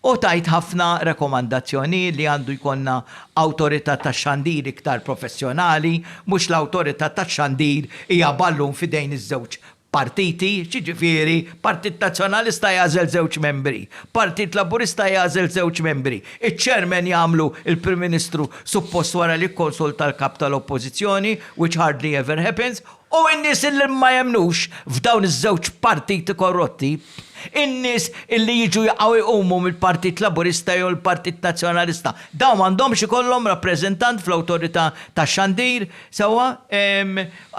u tgħid ħafna rekomandazzjonijiet li għandu jkollna awtorità tax-xandir iktar professjonali, mhux l-awtorità tax-xandir hija ballun f'idejn iż-żewġ partiti, jiġifieri Partit Nazzjonalista jagħżel żewġ membri, Partit Laburista jagħżel żewġ membri, iċ-chairman jagħmlu l-Prim Ministru suppost wara li jikkonsulta l-Kap tal-Oppożizzjoni, which hardly ever happens, U n-nies illi ma jemmnux f'dawn iż-żewġ partiti korrotti, in-nies illi jiġu jaqgħu jqumu mill-Partit Laburista jew il-Partit Nazzjonalista, dawn m'għandhomx ikollhom rappreżentant fl-Awtorità tax-Xandir, sewwa?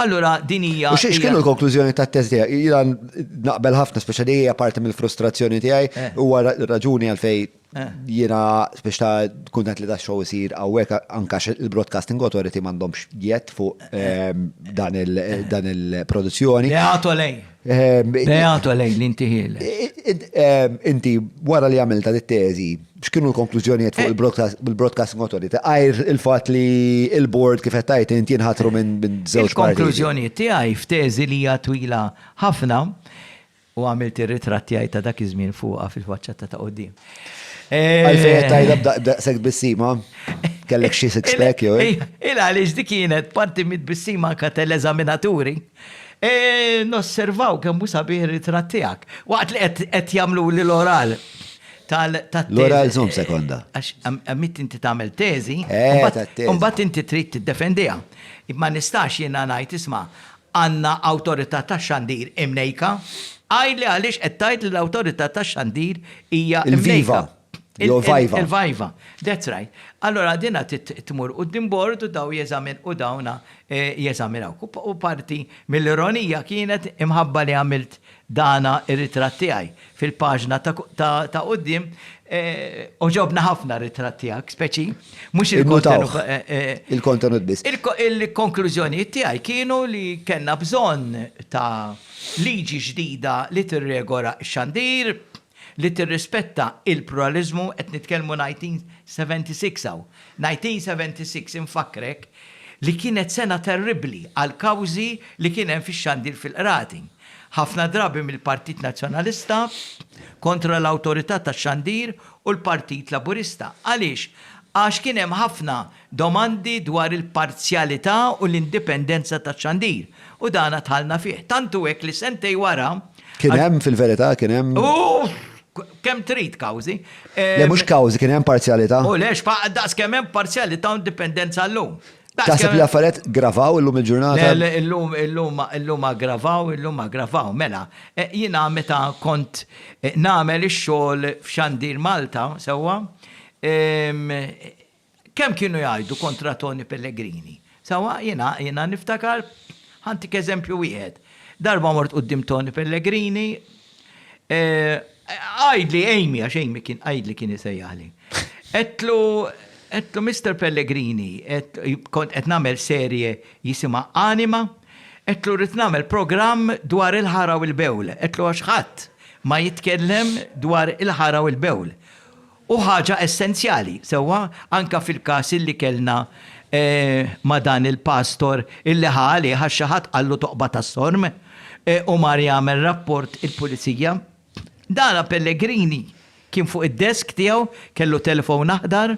Allura din hija. U x'kienu l-konklużjoni tat-test tiegħek? Jiena naqbel ħafna, speċjali hija parti mill-frustrazzjoni tiegħi, huwa raġuni għalfejn Jiena biex ta' kuntent li da' show isir għawek anka il-Broadcasting Authority mandomx jett fuq ehm, dan il-produzzjoni. Beato lej. Ehm, Beato lej li inti ehm, Inti wara li għamilta dit teżi x'kienu l-konklużjonijiet fuq eh. il-Broadcasting Authority? Għajr il-fatt li il-board kif qed tajt inti nħatru minn żewġ Il-konklużjonijiet tiegħi f'teżi li hija twila ħafna U għamilt ir-ritratt tiegħi ta' dak iż-żmien fuqha fil-faċċata ta' quddiem. Għalfejn qed tgħidha b'daqshekk tbissima? Kellek xi six pack jew hekk? Il għaliex dik kienet parti mit-tbissima anke tal-eżaminaturi. Nosservaw kemm hu sabiħ ir-ritratt tiegħek. Waqt li qed jagħmluli l-oral tat-teżi. L-oral żomm sekonda. Għax għamilt inti tagħmel teżi. Eh, tat-teżi. Imbagħad inti trid tiddefendiha. Ma nistax jiena ngħid, isma', Għandna Awtorità tax-Xandir imnejka? Għidli għaliex qed tgħid li l-Awtorità tax-Xandir hija mnejka. Il-Viva, jew il-Viva. That's right. Allura dinha trid tmur quddiem bord u daw jeżamin u dawna jeżaminawk. U parti mill-ironija kienet imħabba li għamilt Dana ir-ritratt tiegħi fil-paġna ta' ta' quddiem. Għoġobna ħafna r-ritratt tiegħek, speċi. Mhux il-kontenut. Il-kontenut biss. Il-konklużjonijiet tiegħi kienu li kellna bżonn ta' liġi ġdida li tirregola x-xandir. li tirrispetta il-pluraliżmu, qed nitkellmu 1976 hawn, 1976 infakkrek li kienet sena terribbli għall-kawżi li kien hemm fix-xandir fil-Qrati. Ħafna drabi mill-Partit Nazzjonalista kontra l-Awtorità tax-Xandir u l-Partit Laburista. Għaliex? Għax kien hemm ħafna Domandi dwar il-parzjalità u l-indipendenza taċ-xandir, u dan għad dħalna fih. Tant hu hekk li sentejn wara. Kien hemm, fil-verità, kien hemm. Uff! Kemm trid kawżi. Le, mhux kawżi, kien hemm parzjalità. U le, x'faqgħet daqs kemm hemm parzjalità u indipendenza llum. Taħseb li l-affarijiet ggravaw illum il-ġurnata? Le, illum aggravaw, illum aggravaw. Mela, jiena meta kont nagħmel ix-xogħol f'Xandir Malta, sewwa, Kemm kienu jgħajtu kontra Toni Pellegrini. Sewwa, jiena, jiena niftakar, ħa ntik eżempju wieħed. Darba mort quddiem Toni Pellegrini, għidli Amy, għax Amy kien għidli kien isejjaħli. Għedtlu, għedtlu Mister Pellegrini, kont qed nagħmel serje jisimha Anima, għedtlu rrid nagħmel programm dwar il-ħara u l-bewl. Għedtlu għax ħadd ma jitkellem dwar il-ħara u l-bewl. Hu ħaġa essenzjali, sewwa anke fil-każ illi kellna ma' dan il-pastor illi ħa għalih għax xi ħadd qallu toqba tas-sorm u mar jagħmel rapport il-Pulizija. Dana Pellegrini kien fuq id-desk tiegħu, kellu telefon aħdar,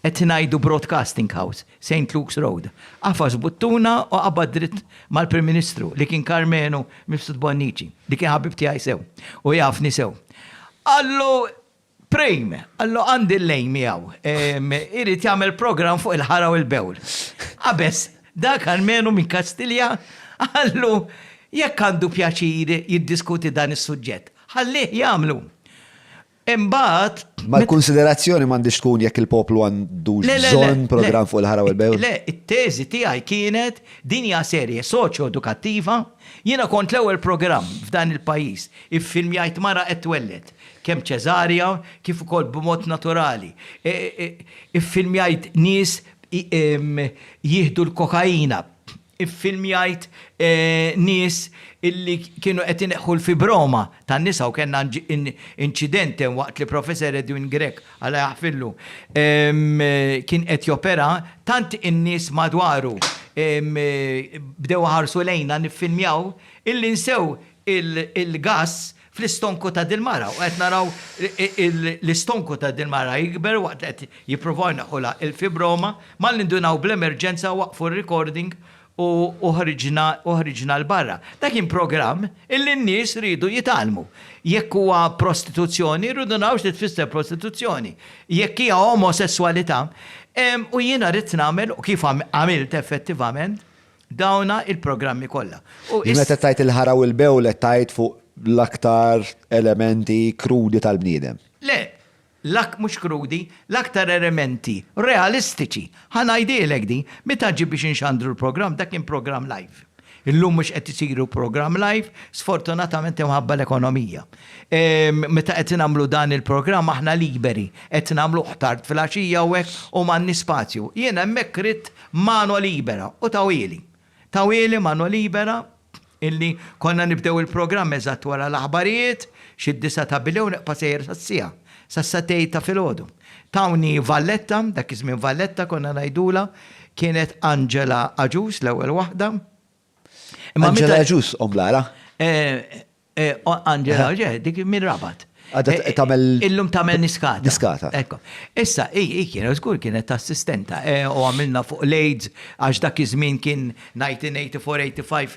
qed ngħidu Broadcasting House, Saint Luke's Road. Għafas buttuna u qabad dritt mal-Prim Ministru li kien Karmenu Mifsud Bonnici, li kien ħabib tiegħi sew u jafni sew. Qallu, Prim, Allo għandi l-lejn miegħu. Irid jagħmel programm fuq il-ħara u l-bewl. Qabeż, Dak almenu minn Kastilja qallu jekk għandu pjaċir jiddiskuti dan is-suġġett, ħallih jagħmlu. Imbagħad. Ma l-kunsiderazzjoni m'għandhiex tkun jekk il-poplu għandux bżonn programm fuq il-ħara u l-bewl? Le, it-teżi tiegħi kienet din hija serje soċjo-edukattiva, jiena kont l-ewwel programm f'dan il-pajjiż iffilmjajt mara qed twelled. kemm ċesarja kif ukoll b'mod naturali. Iffilmjajt nies jieħdu l-kokaina. Iffilmjajt nies illi kienu qed ineħħu l-fibroma tan-nisa u kellna inċident waqt li Professor Edwin Grech, Alla jaħfirlu, kien qed jopera, tant in-nies madwaru bdew iħarsu lejna niffilmjaw illi nsew il-gass fl-istonku ta' dil-mara u qed naraw l-istonku ta' dil-mara jikber waqt li qed jippruvaw jneħħulha il-fibroma, ma nindunaw bl-emerġenza waqqfu r-recording u ħriġna u ħriġna 'l barra. Dak kien programm illi n-nies riedu jitgħallmu. Jekk huwa prostituzzjoni rridu naraw xi tfisser prostituzzjoni. Jekk hija omosesswalità, u jiena ridt nagħmel u kif għamilt effettivament, Dawna il-programmi kollha. Li meta tgħid il-ħara u l-bewlet tgħid fuq l-aktar elementi krudi tal-bniedem. Le, mhux krudi, l-aktar elementi realistiċi. Ħa ngħidilek din, meta ġie biex inxandru l-programm, dak kien programm live. Illum mhux qed isiru programm live, sfortunatament imħabba l-ekonomija. Meta qed nagħmlu dan il-programm aħna liberi, qed nagħmluh tard filgħaxija u hekk u m'għandniex spazju. Jien hemmhekk ridt Mano Libera u tawieli. Tawieli Mano Libera illi konna nibdew il-programm eżatt wara l-aħbarijiet, xi d-disgħa ta' bilgħa u neqpa' sejjer sas-siegħa, sas-satejn ta' filgħodu. Tawni Valletta, dak iż-żmien Valletta konna ngħidulha, kienet Angela Agius l-ewwel waħda. Angela Agius omm Lara? Eh, Angela, eh. ġeħ, dik minn rabat. Għadda eh, tamel. Illum tamel niskata. Niskata. Ekko. Issa, i kienet, zgur kienet assistenta, u għamilna fuq l-AIDS, għax dak iż-żmien kien 1984-85,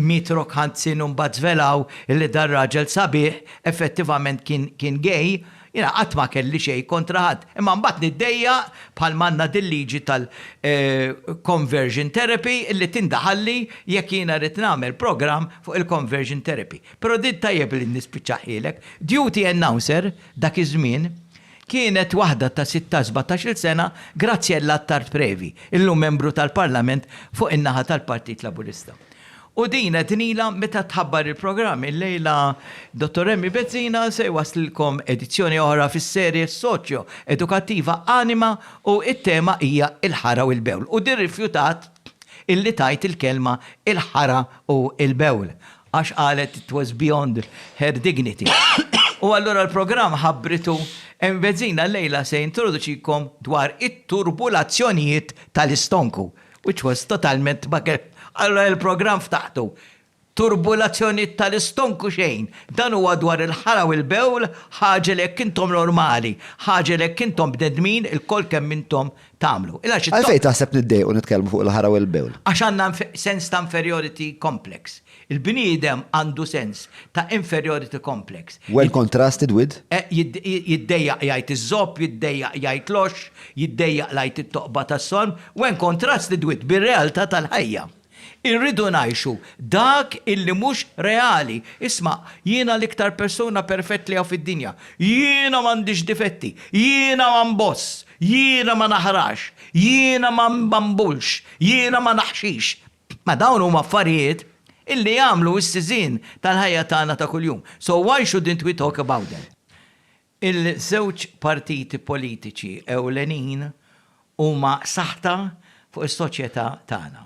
mitrok ħanzin un batzvelaw li dar raġel sabiħ, effettivament kien gay, Jiena qatt ma kelli xejn kontra ħadd, imma mbagħad niddejjaq bħalma għandna dil-liġi tal, conversion therapy li tindaħalli jekk jiena rrid nagħmel programm fuq il-conversion therapy. Però din tajjeb li nispiċċahielek, duty announcer dak iż-żmien kienet waħda ta' sitta sbatax-il sena Graziella Attard Previ, illum membru tal-Parlament fuq in-naħa tal-Partit Laburista. U din qed inilha meta tħabbar il-programm. Illejla Dottor Emmi Bezzina se jwasslilkom edizzjoni oħra fis-serje soċjo edukattiva Anima u t-tema hija Il-Ħara u l-Bewl u din rifjutat illi tgħid il-kelma il-ħara u l-bewl għax qalet it was beyond her dignity. U allura l-programm ħabbritu Emmi Bezzina llejla se jintroduċikom dwar it-turbulazzjonijiet tal-istonku. Which was totalment baget. Allura il-programm ftaħtu. Turbulazzjonijiet tal-istonku xejn. Dan huwa dwar il-ħara u l-bewl, ħaġa li jekk intom normali, ħaġa li jekk intom bnedmin, ilkoll kemm intom tagħmlu. Għalfejn taħseb niddejqu nitkellmu fuq il-ħara u l-bewl? Għax għandna sens ta' inferiority complex. Il-bniedem għandu sens ta' inferiority complex. Well contrasted with. Jiddejjaq jgħid iż-żopp, jiddejjaq jgħid l-għoxx, jiddejjaq l-għid it-toqba tas-sonn, when contrasted with bir-realtà tal-ħajja. Irridu ngħixu dak illi mhux reali. Isma', jiena l-iktar persuna perfett li hawn fid-dinja. Jiena m'għandix difetti. Jiena ma nboss. Jiena ma naħrax. Jiena ma nbambullx. Jiena ma naħxix. Ma dawn huma affarijiet illi jagħmlu s-siżien tal-ħajja tagħna ta' kuljum. So why shouldn't we talk about them? Il-żewġ partiti politiċi ewlenin huma saħta fuq is-soċjetà tagħna.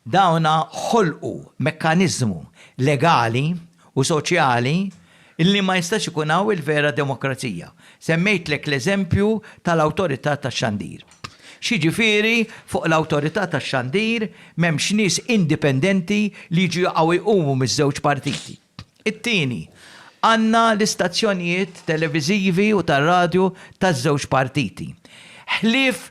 Dawn ħolqu mekkaniżmu legali u soċjali li ma jistax ikun hawn il-vera demokrazija. Semmejtlek l-eżempju tal-Awtorità tax-Xandir. X'jiġifieri fuq l-Awtorità tax-Xandir m'hemmx nies indipendenti li jiġu jaqgħu jqumu miż-żewġ partiti? It-tieni, għandna l-istazzjonijiet televiżivi u tar-radju taż-żewġ partiti. Ħlief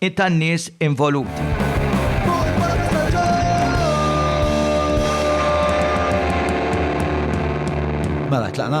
u tan-nies involuti. Mela, tlaqna?